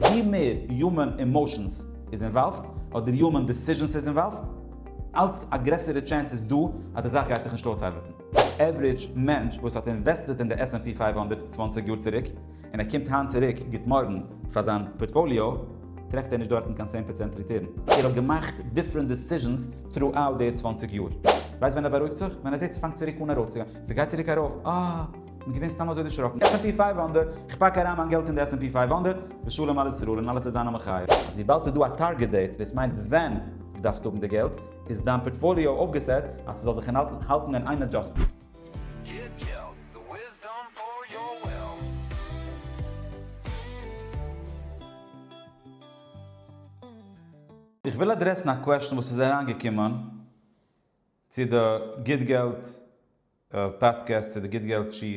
ווי מער יומען עמאושענס איז אינוואלווד, אדער יומען דעסיזשענס איז אינוואלווד, אלץ א גרעסערע טשענס איז דא אז די זאך גייט זיך נישט אויסארבעטן. עוורידזש מענטש וואס האט אינוועסטעט אין די עס ענד פי פֿינף הונדערט צוואַנציק יאר צוריק, און ער קומט היינט צוריק גוט מארגן פאר זיין פארטפאליאו, טרעפט ער נישט דארטן קיין צען פראצענט ריטורן. ער האט געמאכט דיפרענט דעסיזשענס טראאוט די צוואַנציק יאר. ווייסט ווען ער בארואיגט זיך? ווען ער זעט ס'פאנגט צוריק אן ארויפצוגיין. ס'גייט צוריק ארויף. אה! בין געווען סתם אזוי דערשראקן. עס ענד פי פייוו האנדערט, איך פאק אריין מיין געלט אין די עס ענד פי פייוו האנדערט, ושלום על ישראל און אלעס וועט זיין א מחיה. אז וויבאלד ס'איז דא א טארגעט דעיט דאס מיינט ווען דו דארפסט האבן די געלט, איז דיין פארטפאליאו אויפגעסעט אז ס'זאל זיך אינהאלטן האלטן אין איין עדזשאסטן. איך וויל אדרעסן א קוועשן וואס איז אריינגעקומען צו די גיט געלט. פאדקעסט צו די גוט געלט שעה,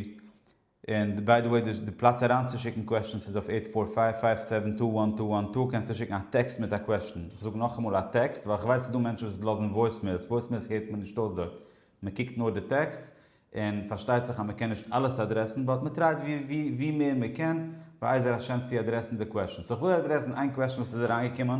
און ביי די וועי די פלאץ אריינצושיקן קוועשטענס איז אויף עיט פאר פייוו פייוו סעווען טו וואן טו וואן טו קענסטו שיקן א טעקסט מיט א קוועשטען, כ'זאג נאכאמאל א טעקסט ווייל כ'ווייס ס'איז דא מענטשן וואס לאזן וואויסמעילס, וואויסמעילס הערט מען נישט אויס דארט, מ'קוקט נאר די טעקסט, און פארשטייט זיך אז מ'קען נישט אלעס אדרעסן באט מ'טרייט ווי מער מ'קען בעזר השם צו אדרעסן די קוועשטענס, סאו כ'וויל אדרעסן איין קוועשטען וואס איז אריינגעקומען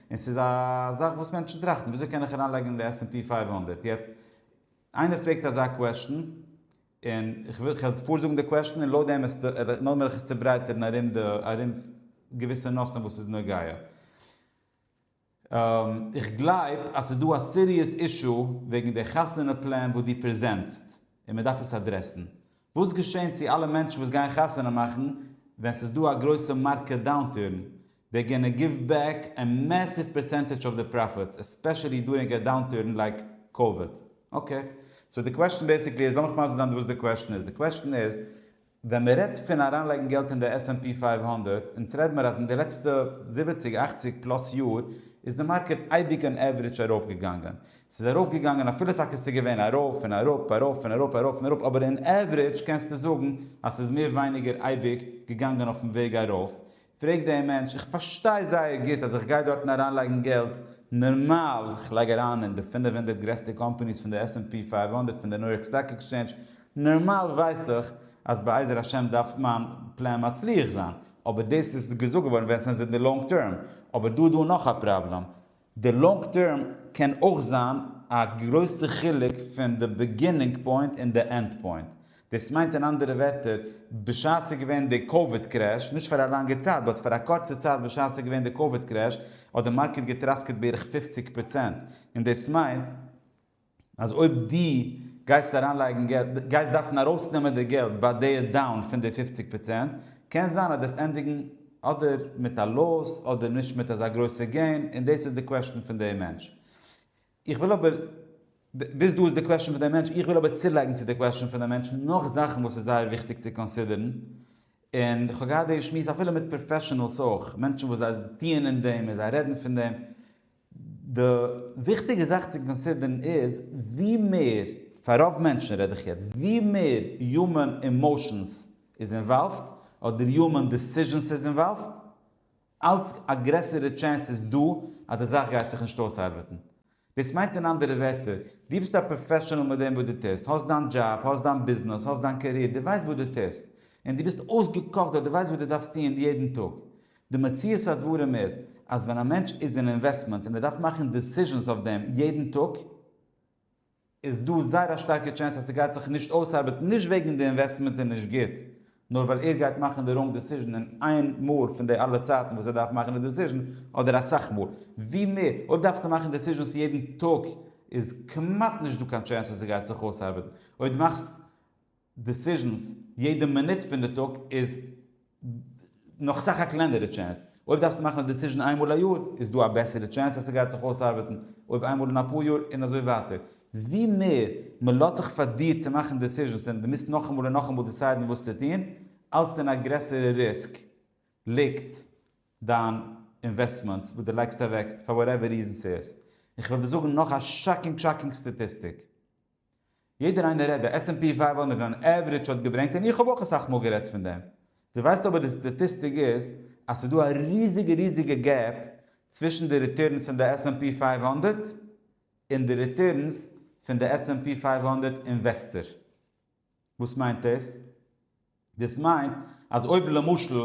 און ס'איז א זאך וואס מענטשן טראכטן, וויאזוי קען איך אריינלייגן אין די עס ענד פי פייוו הונדערט? יעצט, איינער פרעגט אזא קוועשטן, און איך וועל איך פאר זאגן די קוועשטן און לויט דעם וועסטו און נאכדעם וועל איך עס צוברייטערן ארום די ארום געוויסע נושאים וואס איז נוגע. איך גלייב אז ס'איז דא א סיריעס אישו וועגן די חתונה פלען וואס דו פרעזענטסט, און מ'דארף עס אדרעסן. וואס געשעהן צו אלע מענטשן וואס גייען חתונה מאכן ווען ס'איז דא א גרויסע מארקעט דאונטורן? דעי גאנא גיוו בעק א מעסיוו פערסענטעדזש אוו די פראפיטס, עספעשעלי דורינג א דאונטורן לייק קאוויד. אקעי, סאו די קוועשן בעיסיקלי איז, לאמיך מסביר זיין וואס די קוועשן איז, די קוועשן איז, ווען מ'רעדט פון אריינלייגן געלט אין די עס ענד פי פֿינף הונדערט, אונז רעד מיר אז אין די לעצטע זיבעציג אכציג פלאס יאר איז די מארקעט אייביג אן עוורידזש ארויפגעגאנגען, ס'איז ארויפגעגאנגען אפילו טאקע ס'איז געווען ארויף און אראפ ארויף און אראפ ארויף און אראפ אבער אין עוורידזש קענסטו זאגן אז ס'איז מער ווייניגער אייביג געגאנגען אויפן וועג ארויף, פרעג דעם מענטש, איך פארשטיי זייער גוט אז איך גיי דארטן אריינלייגן געלט נארמאל, איך לייג אריין אין די פֿינף הונדערט גרעסטע קאמפאניס פון די עס ענד פי פֿינף הונדערט פון די ניו יארק סטאק עקסטשעינדזש, נארמאל ווייס איך אז בעזר השם דארף מיין פלען מצליח זיין, אבער דאס איז געזאגט געווארן ווען ס'איז אין די לאנג טערם, אבער דא איז דא נאך א פראבלעם, די לאנג טערם קען אויך זיין א גרויסע חילוק פון די בעגינונג פוינט און די ענד פוינט. דאס מיינט אין אנדערע ווערטער, בשעת ס'איז געווען די קאוויד קרעש, נישט פאר א לאנגע צייט, באט פאר א קורצע צייט בשעת ס'איז געווען די קאוויד קרעש, האט די מארקעט געטראסקעט בערך פופציג פראצענט, און דאס מיינט, אז אויב דו גייסט אריינלייגן געלט, גייסט דארפן ארויסנעמען די געלט ביי די דאון פון די פופציג פראצענט, קען זיין אז דאס ענדיגן אדער מיט א לאס אדער נישט מיט אזא גרויסע געין, און דאס איז די קוועשן פון די מענטש. איך וויל אבער, ביז דא איז די קוועשן פון די מענטש, איך וויל אבער צולייגן צו די קוועשן פון די מענטש נאך זאכן וואס איז זייער וויכטיג צו קאנסידערן, און כ'האב געהאט די שמועס אפילו מיט פראפעשענעלס אויך, מענטשן וואס זיי טוען אין דעם און זיי רעדן פון דעם, די וויכטיגע זאך צו קאנסידערן איז, ווי מער, פאר רוב מענטשן רעד איך יעצט, ווי מער יומען עמאושענס איז אינוואלווד, אדער יומען דעסיזשענס איז אינוואלווד, אלץ א גרעסערע טשענס איז דא אז די זאך גייט זיך נישט אויסארבעטן. דאס מיינט אין אנדערע ווערטער, דו ביסט א פראפעשענעל מיט דעם וואס דו טוסט, האסט דיין דזשאב, האסט דיין ביזנעס, האסט דיין קאריער, דו ווייסט וואס דו טוסט, און דו ביסט אויסגעקאכט דארט, דו ווייסט וואס דו דארפסט טון יעדן טאג. די מציאות הדברים איז אז ווען א מענטש איז אין אינוועסטמענטס און ער דארף מאכן דעסיזשענס אויף דעם יעדן טאג איז דא זייער א שטארקע טשענס אז ס'גייט זיך נישט אויסארבעטן נישט וועגן די אינוועסטמענט איז נישט גוט נאר ווייל ער גייט מאכן די ראנג דעסיזשען אין איין מאל פון די אלע צייטן וואס ער דארף מאכן די דעסיזשען אדער אסאך מאל ווי מער אויב דארפסטו מאכן דעסיזשענס יעדן טאג איז כמעט נישט דא קיין טשענס אז ס'גייט זיך אויסארבעטן אויב דו מאכסט דעסיזשענס יעדע מינוט פון די טאג איז נאך סאך א קלענערע טשענס. אויב דארפסטו מאכן א דעסיזשען איינמאל א יאר איז דא א בעסערע טשענס אז ס'גייט זיך אויסארבעטן אויב איינמאל אין אפאר יאר און אזוי ווייטער. ווי מער מ'לאזט זיך פאר דיר צו מאכן דעסיזשענס און דו מוזט נאכאמאל און נאכאמאל דעסיידן וואס צו טון, אלץ אין א גרעסערע ריסק ליגט דיין אינוועסטמענטס וואס דו לייגסט אוועק פאר וואטעווער ריזען ס'איז. איך וועל דיר זאגן נאך א שאקינג שאקינג סטאטיסטיק. יעדער איינער רעדט די עס ענד פי פֿינף הונדערט אן עוורידזש האט געברענגט און איך האב אויך אסאך מאל גערעדט פון דעם. דו ווייסט אבער די סטאטיסטיק איז אז ס'איז דא א ריזיגע ריזיגע געפ צווישן די ריטורנס פון די עס ענד פי פֿינף הונדערט און די ריטורנס פון די עס ענד פי פֿינף הונדערט אינוועסטער. וואס מיינט דאס? דאס מיינט אז אויב למשל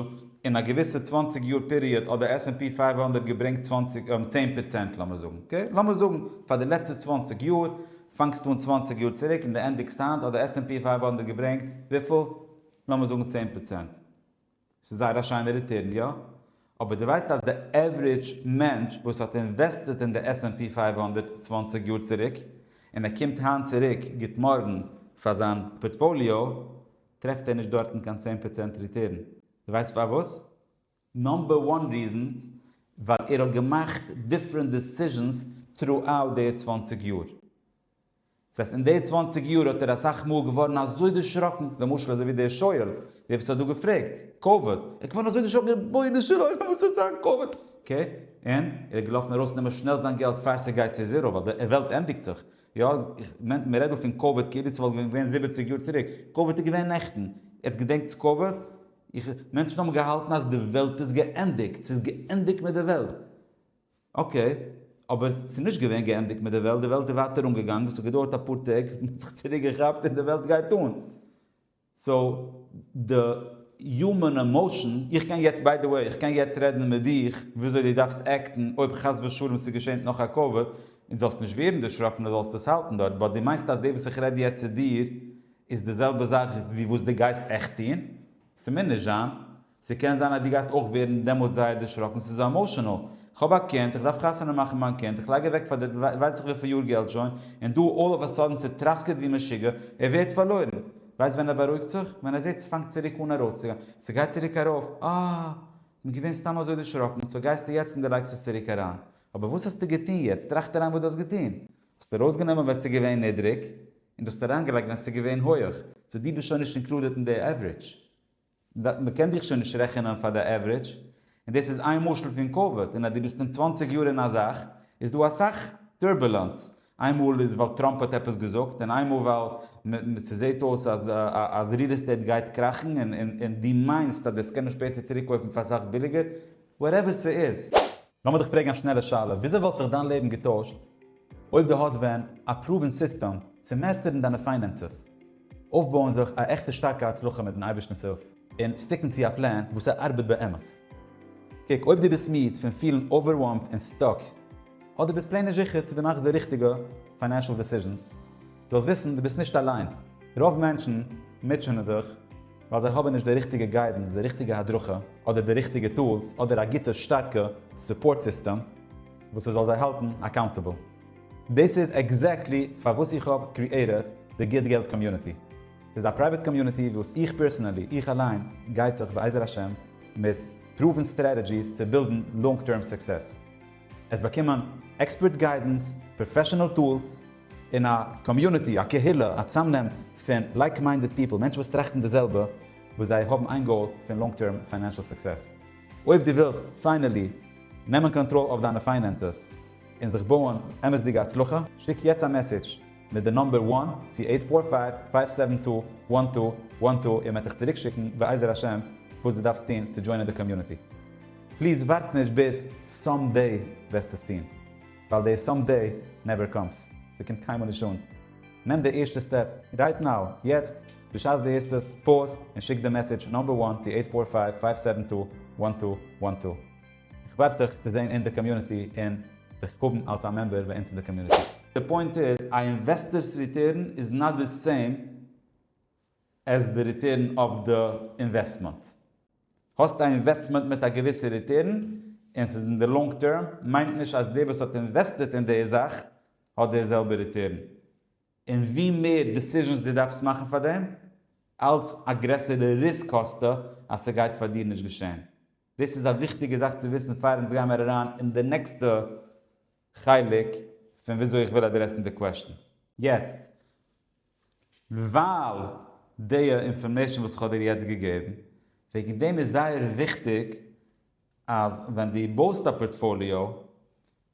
אין א געוויסע צוואַנציק יאר פיריעד האט די עס ענד פי פֿינף הונדערט געברענגט צוואַנציק צען פראצענט לאמיר זאגן אקעי לאמיר זאגן פאר די לעצטע צוואַנציק יאר פאנגסט אן צוואַנציק יאר צוריק און די ענדיגסט היינט האט די עס ענד פי פֿינף הונדערט געברענגט וויפיל? לאמיר זאגן צען פראצענט. ס'איז זייער א שיינע ריטורן, יא? אבער דו ווייסט אז די עוורידזש מענטש וואס האט אינוועסטעט אין די עס ענד פי פֿינף הונדערט צוואַנציק יאר צוריק, און ער קומט היינט צוריק גוט מארגן פאר זיין פארטפאליאו, טרעפט ער נישט דארטן קיין צען פראצענט ריטורן. דו ווייסט פארוואס? נאמבער וואן ריזען, ווייל ער האט געמאכט דיפרענט דעסיזשענס טרו אוט די צוואַנציק יאר. זעסט אין די צוואנציג יאר האט ער אסאך מאל געווארן אזוי דערשראקן, למשל אזוי ווי דער שואל, דער וואס האט דא געפרעגט, קאוויד, ער איז געווארן אזוי דערשראקן רבונו של עולם וואס איז זיין קאוויד, אקעי, און ער איז געלאפן ארויס נעמען שנעל זיין געלט פאר ס'גייט צו זיראו ווייל די וועלט ענדיגט זיך, יא, מען רעדט דא פון קאוויד כאילו ס'וואלט ווען געווען זיבעציג יאר צוריק, קאוויד איז געווען נעכטן, יעצט געדענקטס קאוויד? איך, מענטשן האבן געהאלטן אז די וועלט איז געענדיגט, ס'איז געענדיגט מיט די וועלט. אקעי, אבער ס'איז נישט געווען געענדיגט מיט די וועלט, די וועלט איז ווייטער אנגעגאנגען, ס'האט געדויערט אפאר טעג און מ'האט זיך צוריק געכאפט און די וועלט גייט אן. סאו די יומען עמאושען, איך קען יעצט ביי די וועי, איך קען יעצט רעדן מיט דיך וויאזוי דו דארפסט עקטן אויב חס ושלום ס'געשענט נאך א קאוויד, און זאלסט נישט ווערן דערשראקן און זאלסט עס האלטן דארט, באט דו מיינסט אז דאס וואס איך רעד יעצט צו דיר איז די זעלבע זאך ווי וואס דו גייסט עכט טון? ס'מיר נישט זיין, ס'קען זיין אז דו גייסט אויך ווערן דעמאלטס זייער דערשראקן, ס'איז עמאושענעל, כ'האב א קינד, כ'דארף חתונה מאכן מיין קינד, כ'לייג אוועק פאר די ווייסעך וויפיל יאר געלט שוין, און דא אלל אוו א סאדען ס'טראסקעט ווי משוגע, ער ווערט פארלוירן. ווייסט ווען ער בארואיגט זיך? ווען ער זעט ס'פאנגט צוריק אן ארויפצוגיין, ס'גייט צוריק ארויף, אה! כ'בין געווען סתם אזוי דערשראקן, סאו גייסטו יעצט און דו לייגסט עס צוריק אריין. אבער וואס האסטו געטון יעצט? טראכט אריין וואס דו האסט געטון. האסט ארויסגענומען ווען ס'איז געווען נידריג, און דו האסט אריינגעלייגט ווען ס'איז געווען הויעך, סאו דו ביסט שוין נישט אינקלודעט אין די עווערידזש. מען קען דיך שוין נישט רעכענען פאר די עוורידזש, און דאס איז איין משל פון קאוויד, און אז דו ביסט אין צוואַנציק יאר אין א זאך, איז דא אסאך טורבולענס, איינמאל איז ווייל טראמפ האט עפעס געזאגט, און איינמאל ווייל ס'זעט אויס אז ריעל עסטעיט גייט קראכן, און דו מיינסט אז דאס קען מען שפעטער צוריק קויפן פאר אסאך ביליגער, וואטעווער ס'איז. לאמיר דיך פרעגן א שנעלע שאלה, וויאזוי וואלט זיך דיין לעבן געטוישט, אויב דו האסט ווען א פרואווען סיסטעם צו מעסטערן דיינע פיינענסעס, אויפבויען זיך א עכטע שטארקע הצלחה מיטן אייבערשטנ'ס הילף, און סטיקן צו א פלען וואס ער ארבעט באמת. קוק, אויב דו ביסט מיד פון פילן אווערוועלמד און סטאק, אדער דו ביסט פלעין נישט זיכער צו דו מאכסט די ריכטיגע פיינענשעל דעסיזשענס, זאלסט וויסן דו ביסט נישט אליין. רוב מענטשן מוטשענען זיך ווייל זיי האבן נישט די ריכטיגע גיידענס, די ריכטיגע הדרכה, אדער די ריכטיגע טולס, אדער א גוטע שטארקע סופארט סיסטעם. וואס ס'זאל זיי האלטן אקאונטעבל. דאס איז עקזעקטלי פארוואס איך האב קריעטעד די גוט געלט קאמיוניטי. ס'איז א פרייוועט קאמיוניטי וואס איך פערסענעלי, איך אליין, גיי דורך בעזר השם מיט פרואוון סטרעטעדזשיס צו בילדן לאנג טערם סוקסעס. עס באקומען עקספערט גיידענס, פראפעשענעל טולס, און א קאמיוניטי, א קהילה, א צאמנעם פון לייק מיינדעד פיפל, מענטשן וואס טראכטן די זעלבע, וואס זיי האבן איין גאול פון לאנג טערם פיינענשעל סוקסעס. אויב דו ווילסט פיינעלי נעמען קאנטראל אויף דיינע פיינענסעס און זיך בויען אמת'דיגע הצלחה, שיק יעצט א מעסעדזש מיט די נאמבער וואן צו עיט פאור פייוו פייוו סעווען טו וואן טו וואן טו און מען וועט דיך צוריקשיקן בעזר השם וואס דו דארפסט טון צו דזשוינען די קאמיוניטי. פליז ווארט נישט ביז סאמדעי וועסט עס טון, ווייל די סאמדעי נעווער קאמס, ס'קומט קיינמאל נישט אן. נעם די ערשטע סטעפ רייט נאו, יעצט, בשעת דו הערסט עס, פאוז און שיק די מעסעדזש נאמבער וואן צו עיט פאר פייוו פייוו סעווען טו וואן טו וואן טו. איך ווארט דיך צו זעהן אין די קאמיוניטי און דיך האבן אלס א מעמבער ביי אונז אין די קאמיוניטי. די פוינט איז א אינוועסטערס ריטערן איז נאט די סעים עז די ריטערן אויף די אינוועסטמענט. האסט א אינוועסטמענט מיט א געוויסע ריטערן און ס'איז אין די לאנג טערם מיינט נישט אז דער וואס האט אינוועסטעט אין די זאך האט די זעלבע ריטערן. און ווי מער דעסיזשענס דו דארפסט מאכן פאר דעם, אלץ א גרעסערע ריסק האסטו אז ס'גייט פאר דיר נישט געשען. דאס איז א וויכטיגע זאך צו וויסן פאר אונז גיימער אריין אין די נעקסטע חלק פון וויאזוי איך וויל אדרעסן די קוועשטן. יעצט ווייל די אינפארמעישן וואס איך האב דיר יעצט געגעבן, וועגן דעם איז זייער וויכטיג אז ווען דו בויסט א פארטפאליאו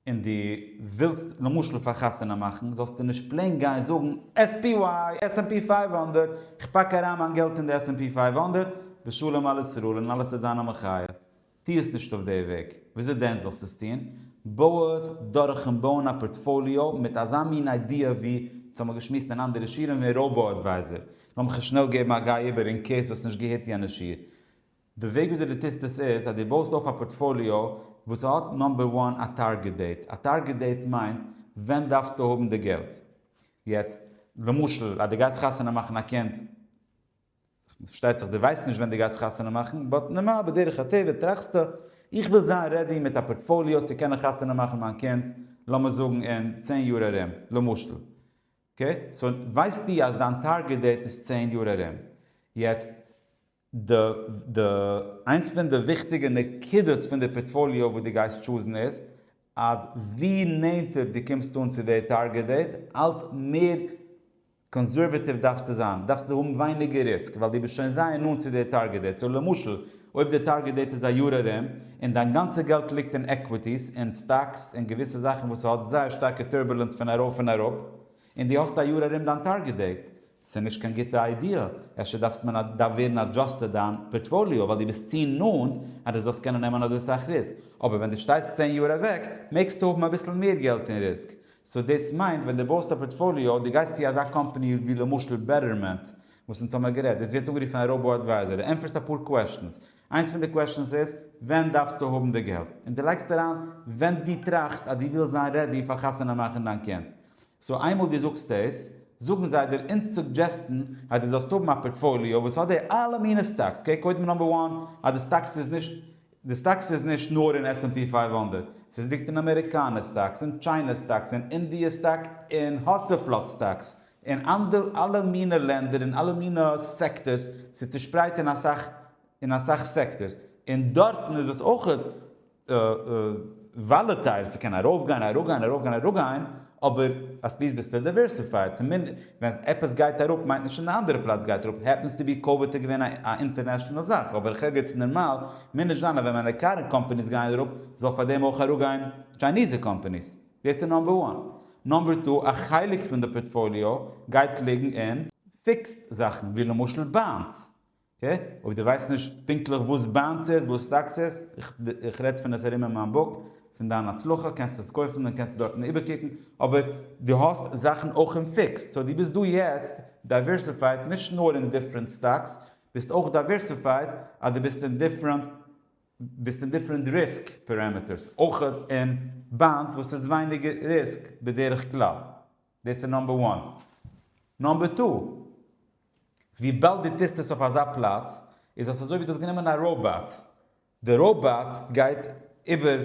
און דו ווילסט למשל פאר חתונה מאכן, זאלסטו נישט פלעין גיין זאגן עס פי וויי, עס ענד פי פייוו הונדערט, איך פאק אריין מיין געלט אין די עס ענד פי פייוו הונדערט, ושלום על ישראל און אלעס וועט זיין א מחיה. טו עס נישט אויף די וועג. וויאזוי דען זאלסטו עס טון? בוי עס דורכ'ן בויען א פארטפאליאו מיט אזא מין איידיע ווי וואס האמיר געשמועסט אין אנדערע שיעורים ווען ראובא אדווייזער. לאמיך עס שנעל געבן א גיי איבער אין קעיס דו האסט נישט געהערט יענע שיעור. די וועג וויאזוי דו טוסט עס איז אז דו בויסט אויף א פארטפאליאו וואס האט נאמבער וואן א טארגעט דעיט. א טארגעט דעיט מיינט ווען דארפסטו האבן די געלט. יעצט למשל אז דו גייסט חתונה מאכן א קינד. פארשטייט זיך דו ווייסט נישט ווען דו גייסט חתונה מאכן, באט נארמאל בדרך הטבע טראכסטו, איך וויל זיין רעדי מיט א פארטפאליאו צו קענען חתונה מאכן מיין קינד לאמיר זאגן אין צען יאר ארום, למשל. אקעי? סאו ווייסטו אז דיין טארגעט דעיט איז צען יאר ארום. יעצט, די די איינס פון די וויכטיגע נקודות פון די פארטפאליאו וואס דו גייסט טשוזן איז, אז ווי נענטער דו קומסט אן צו די טארגעט דעיט, אלץ מער, קאנסערוואטיוו דארפסטו זיין, דארפסטו האבן ווייניגער ריסק, ווייל דו ביסט שוין זייער נאנט צו דער טארגעט דעיט, סאו למשל אויב דער טארגעט דעיט איז א יאר ארום, און דיין גאנצע געלט ליגט אין עקוויטיס, אין סטאקס, אין געוויסע זאכן וואס ס'האט זייער שטארקע טורבולענס פון ארויף און אראפ, און דו האסט א יאר ארום דיין טארגעט דעיט, ס'איז נישט קיין גוטע איידיע, אפשר דארפסט מען דארף ווערן אדזשאסטעד דיין פארטפאליאו, ווייל דו ביסט צו נאנט אז דו זאלסט קענען נעמען אזוי סאך ריסק, אבער ווען דו שטייסט צען יאר אוועק, מעגסטו האבן אביסל מער געלט אין ריסק, סאו דאס מיינט ווען דו בויסט א פארטפאליאו, דו גייסט צו אזא קאמפאני ווי למשל בעטערמענט, וואס אונז האמער גערעדט, דאס ווערט אנגערופן א ראובא אדווייזער, דו ענטפערסט אפאר קוועשטענס, איינס פון די קוועשטענס איז, ווען דארפסטו האבן די געלט? און דו לייגסט אריין ווען דו טראכסט אז דו ווילסט זיין רעדי פאר חתונה מאכן דיין קינד. סאו איינמאל דו זאגסט דאס, זאגן זיי דיר אונז סוגדזשעסטן אז דו זאלסט האבן א פארטפאליאו וואס האט די אלע מיני סטאקס, אקעי, קודם נאמבער וואן, אז די סטאקס איז נישט די סטאקס איז נישט נאר אין עס ענד פי פייוו הונדערט, סאיז ליגט אין אמעריקאנע סטאקס, אין טשיינע סטאקס, אין אינדיע סטאק, אין האצעפלאץ סטאקס, אין אנדער אלע מינע לענדער אין אלע מינע סעקטארס, סאיז צושפרייט אין אסאך אין אסאך סעקטארס, אין דארטן איז עס אויכעט. וואלעטייל צו קענען ארויפגיין אראפגיין ארויפגיין אראפגיין אבער אטליסט ביסטו דייווערסיפייד צומיניסט ווען עפעס גייט אראפ מיינט נישט אין די אנדערע פלאץ גייט אראפ העפענס טו בי קאוויד איז געווען א אינטערנעשאנעל זאך אבער כרגע איז נארמאל מער נישט זיין אז ווען מיינע קארענט קאמפעניס גייען אראפ זאל פאר דעם אויך אראפגיין טשייניזע קאמפעניס דאס איז נאמבער וואן נאמבער טו א חלק פון די פארטפאליאו גייט ליגן אין פיקסד זאכן ווי למשל באנדס אויב דו ווייסט נישט פונקטליך וואס באנדס איז, וואס סטאקס איז, איך רעד פון עס ארום אין מיין בוק, פון דיין הצלחה, קענסטו עס קויפן און קענסטו דארטן איבערקוקן, אבער דו האסט זאכן אויך אין פיקסד, סאו דו ביסט דא יעצט דייווערסיפייד נישט נאר אין דיפרענט סטאקס, ביסט אויך דייווערסיפייד אז דו ביסט אין דיפרענט ביסט אין דיפרענט ריסק פאראמיטערס, אויך אין באנדס וואס איז ווייניגער ריסק בדרך כלל. דאס איז נאמבער וואן. נאמבער טו, וויבאלד דו טוסט עס אויף אזא פלאץ, איז עס אזוי ווי דו האסט גענומען א ראובאט. די ראובאט גייט איבער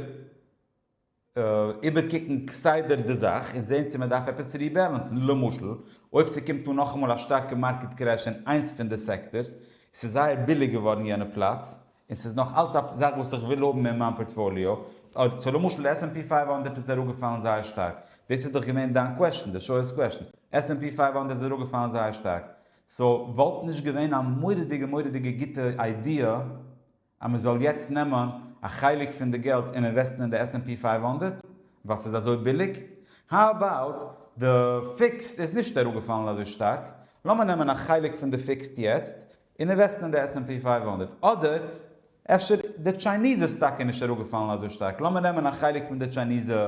איבערקוקן כסדר די זאך און זען צו מען דארף עפעס ריבעלענסן. למשל, אויב ס'קומט אן נאכאמאל א שטארקע מארקעט קרעש אין איינס פון די סעקטארס, ס'איז זייער ביליג געווארן יענע פלאץ, און ס'איז נאך אלץ א זאך וואס איך וויל האבן אין מיין פארטפאליאו, אויב צו למשל עס ענד פי פייוו הונדערט איז אראפגעפאלן זייער שטארק, דאס איז דאך געווען דיין קוועשן, די שואל'ס קוועשן, עס ענד פי פייוו הונדערט איז אראפגעפאלן זייער שטארק, סאו וואלט נישט געווען א מורא'דיגע מורא'דיגע גוטע איידיע אז מען זאל יעצט נעמען א חלק פון די געלט און אינוועסטן אין די עס ענד פי פייוו הונדערט ווייל ס'איז אזוי ביליג? האו אבאוט די פיקסד איז נישט אראפגעפאלן אזוי שטארק, לאמיר נעמען א חלק פון די פיקסד יעצט און אינוועסטן אין די עס ענד פי פייוו הונדערט, אדער אפשר די טשייניזע סטאק איז נישט אראפגעפאלן אזוי שטארק, לאמיר נעמען א חלק פון די טשייניזע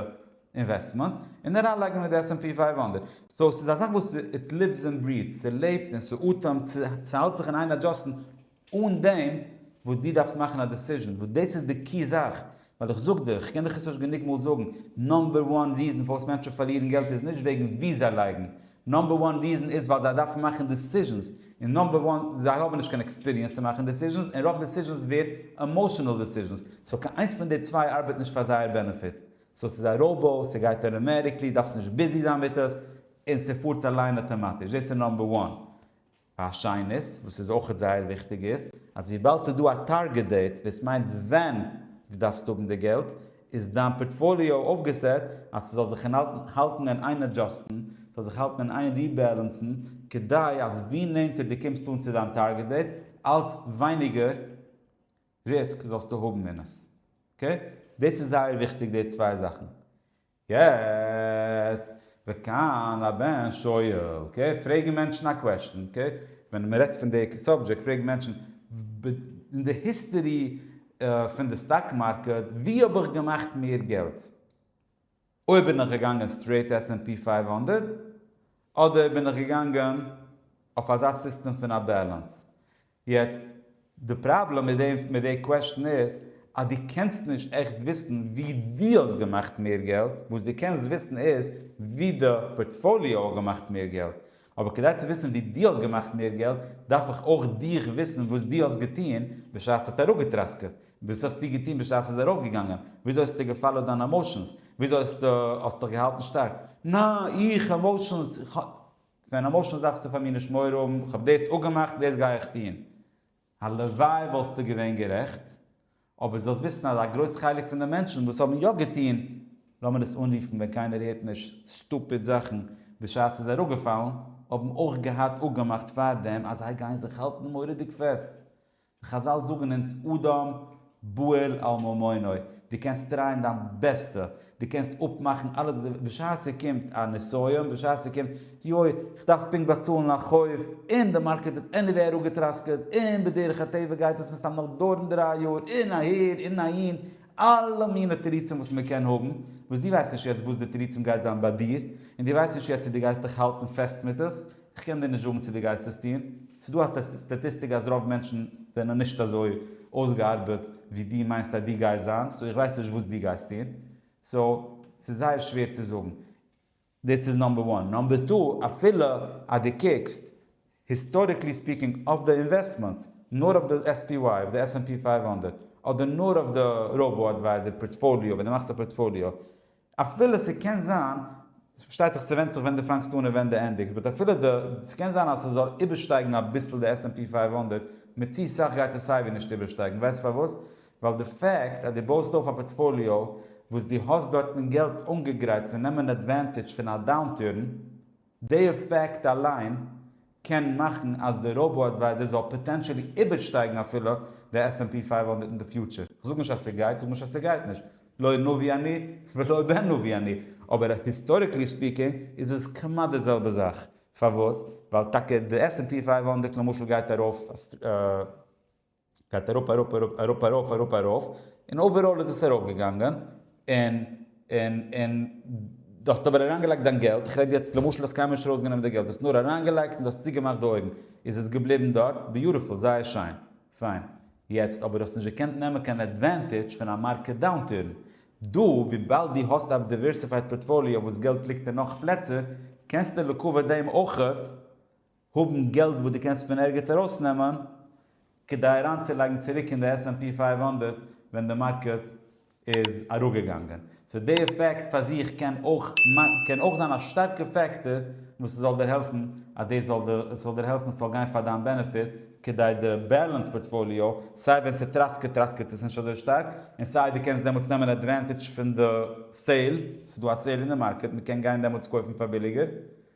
אינוועסטמענט און אריינלייגן אין די עס ענד פי פייוו הונדערט. סאו ס'איז א זאך וואס איט ליווס ענד בריעטס, ס'לעבט און ס'אטעמט, ס'האלט זיך אין איין אדזשאסטן, אן דעם וואס דו דארפסט מאכן א דעסיזשן, וואס דאס איז די קי זאך, ווייל איך זאג דיר, איך קען דיך עס נישט גענוג מאל זאגן, נאמבער וואן ריזן פארוואס מענטשן פארלירן געלט איז נישט וועגן וואו זיי לייגן, נאמבער וואן ריזן איז ווייל זיי דארפן מאכן דעסיזשענס, און נאמבער וואן זיי האבן נישט קיין עקספיריענס צו מאכן דעסיזשענס, און רוב דעסיזשענס ווערט עמאשענעל דעסיזשענס, סאו קיין איינס פון די צוויי ארבעט נישט פאר זייער בענעפיט, סאו ס'איז א ראובא, ס'גייט אראמעטיקלי, דארפסט נישט ביזי זיין מיט עס, און ס'פארט אליין אטאמאטיש, דאס איז נאמבער וואן, א שנית, וואס איז אויכעט זייער וויכטיג איז, אז וויבאלד ס'איז דא א טארגעט דעיט, דאס מיינט ווען דו דארפסט האבן די געלט, איז דיין פארטפאליאו אויפגעסעט אז ס'זאל זיך אינהאלטן האלטן און איין אדזשאסטן, ס'זאל זיך האלטן און איין ריבעלענסן, כדי אז ווי נענטער דו קומסט אן צו דיין טארגעט דעיט, אלץ ווייניגער ריסק זאלסטו האבן אין עס. אקעי? דאס איז זייער וויכטיג די צוויי זאכן. יעצט, וכאן הבן שואל, אקעי, פרעגן מענטשן א קוועשטן, אקעי, ווען מען רעדט פון די סאבדזשעקט, פרעגן מענטשן, אין די היסטערי פון די סטאק מארקעט, ווי האב איך געמאכט מער געלט? אויב בין איך געגאנגען סטרעיט עס ענד פי פֿינף הונדערט, אדער בין איך געגאנגען אויף אזא סיסטעם פון א בעלענס? יעצט, די פראבלעם מיט דעם, מיט די קוועסטשן איז, אז דו קענסט נישט עכט וויסן ווי דו האסט געמאכט מער געלט, וואס דו קענסט וויסן איז ווי די פארטפאליאו האט געמאכט מער געלט. אבער כדי צו וויסן ווי דו האסט געמאכט מער געלט, דארף איך אויך דיך וויסן וואס דו האסט געטון בשעת ס'האט אראפגעטראסקעט, וואס האסטו געטון בשעת ס'איז ארויפגעגאנגען, וויאזוי האסטו געפאלאוט דיינע עמאושענס, וויאזוי האסטו האסט דיך געהאלטן שטארק. נא, איך? עמאושענס? כ'האב. ווען למשל דארפסטו פאר מיר נישט מורא האבן, איך האב דאס אפגעמאכט, דאס גיי איך טון. הלוואי וואלסטו געווען גערעכט, אבער זאלסט וויסן אז א גרויס חלק פון די מענטשן וואס האבן יא געטון, לאמיר עס אנרופן ווען קיינער הערט נישט, סטופיד זאכן בשעת ס'איז אראפגעפאלן, האבן אויך געהאט אפגעמאכט פארדעם אז זיי גייען זיך האלטן מורא'דיג פעסט. חזל זאגן אונז אדם בועל על ממונו, דו קענסט טרייען דיין בעסטע, דו קענסט אפמאכן אלעס, בשעת ס'קומט א נסיון, בשעת ס'קומט, יוי, כ'דארף פונקט באצאלן א חוב, און די מארקעט האט עניוועי אראפגעטראסקעט, און בדרך הטבע גייט עס מן הסתם נאך דויערן דריי יאר, און אהער און אהין, אלע מיני תירוצים וואס מ'קען האבן, וואס דו ווייסט נישט יעצט וואס די תירוצים גייט זיין ביי דיר, און דו ווייסט נישט יעצט צו דו גייסט דיך האלטן פעסט מיט עס, כ'קען דיר נישט זאגן צו דו גייסט עס טון, ס'איז דא א סטאטיסטיק אז רוב מענטשן זענען נישט אזוי אויסגעארבעט ווי דו מיינסט אז דו גייסט זיין, סאו איך ווייס נישט וואס דו גייסט טון, סאו ס'איז זייער שווער צו זאגן. דאס איז נאמבער וואן. נאמבער טו, אפילו אז דו קוקסט, היסטאריקלי ספיקינג, אויף די אינוועסטמענטס, נאר אויף די עס פי וויי, אויף די עס ענד פי פֿינף הונדערט, אדער נאר אויף די ראבא אדווייזער פארטפאליאו, ווען דו מאכסט א פארטפאליאו, אפילו ס'קען זיין, פארשטייט זיך ס'ווענדט זיך ווען דו פאנגסט אן און ווען דו ענדיגסט, באט אפילו די, ס'קען זיין אז ס'זאל איבערשטייגן אביסל די עס ענד פי פייוו הונדערט, מיט צו סאך גייט עס סייווי נישט איבערשטייגן, ווייסט פארוואס? ווייל די פעקט אז דו בויסט אויף א פארטפאליאו וואס דו האסט דארטן געלט אנגעגרייט צו נעמען עדווענטידזש פון א דאונטורן, דעי פאקט אליין קען מאכן אז די ראובא אדווייזער זאל פאטענטשעלי איבערשטייגן אפילו די עס ענד פי פייוו הונדערט אין די פיוטשער. כ'זאג נישט אז ס'גייט, כ'זאג נישט אז ס'גייט נישט, לא נביא אני ולא בן נביא אני, אבער היסטאריקלי ספיקינג איז עס כמעט די זעלבע זאך. פארוואס? ווייל טאקע די עס ענד פי פייוו הונדערט למשל גייט ארויף גייט אראפ אראפ אראפ אראפ ארויף אראפ ארויף און אוועראל איז עס ארויף געגאנגען און און און דו האסט אבער אריין געלייגט דיין געלט איך רעד יעצט למשל האסט קיינמאל נישט ארויס גענומען די געלט האסט נאר אריין געלייגט און דו האסט צוגעמאכט די אויגן איז עס געבליבן דארט ביוטיפול זייער שיין פיין יעצט אבער דו האסט נישט געקענט נעמען קיין עדווענטידזש פון א מארקעט דאונטורן דא וויבאלד דו האסט א דיווערסיפייד פארטפאליאו וואס געלט ליגט אין נאך פלעצער קענסטו לעיקוואד דעם אויכעט האבן געלט וואס דו קענסט פון ערגעץ ארויסנעמען כדי אריינצולייגן צוריק אין די עס ענד פי פֿינף הונדערט ווען די מארקעט איז אראפגעגאנגען. סאו די עפעקט פאר זיך קען אויך קען אויך זיין א שטארקע פעקטאר וואס עס זאל דיר העלפן אז דאס זאל דיר עס זאל דיר העלפן עס זאל גיין פאר דיין בענעפיט כדי די בעלענס פארטפאליו סיי ווען ס'טראסקעט טראסקעט עס נישט אזוי שטארק און סיי דו קענסט דעמאלטס נעמען עדווענטעדזש פון די סעיל ס'איז דא א סעיל אין די מארקעט מ'קען גיין דעמאלטס קויפן פאר ביליגער.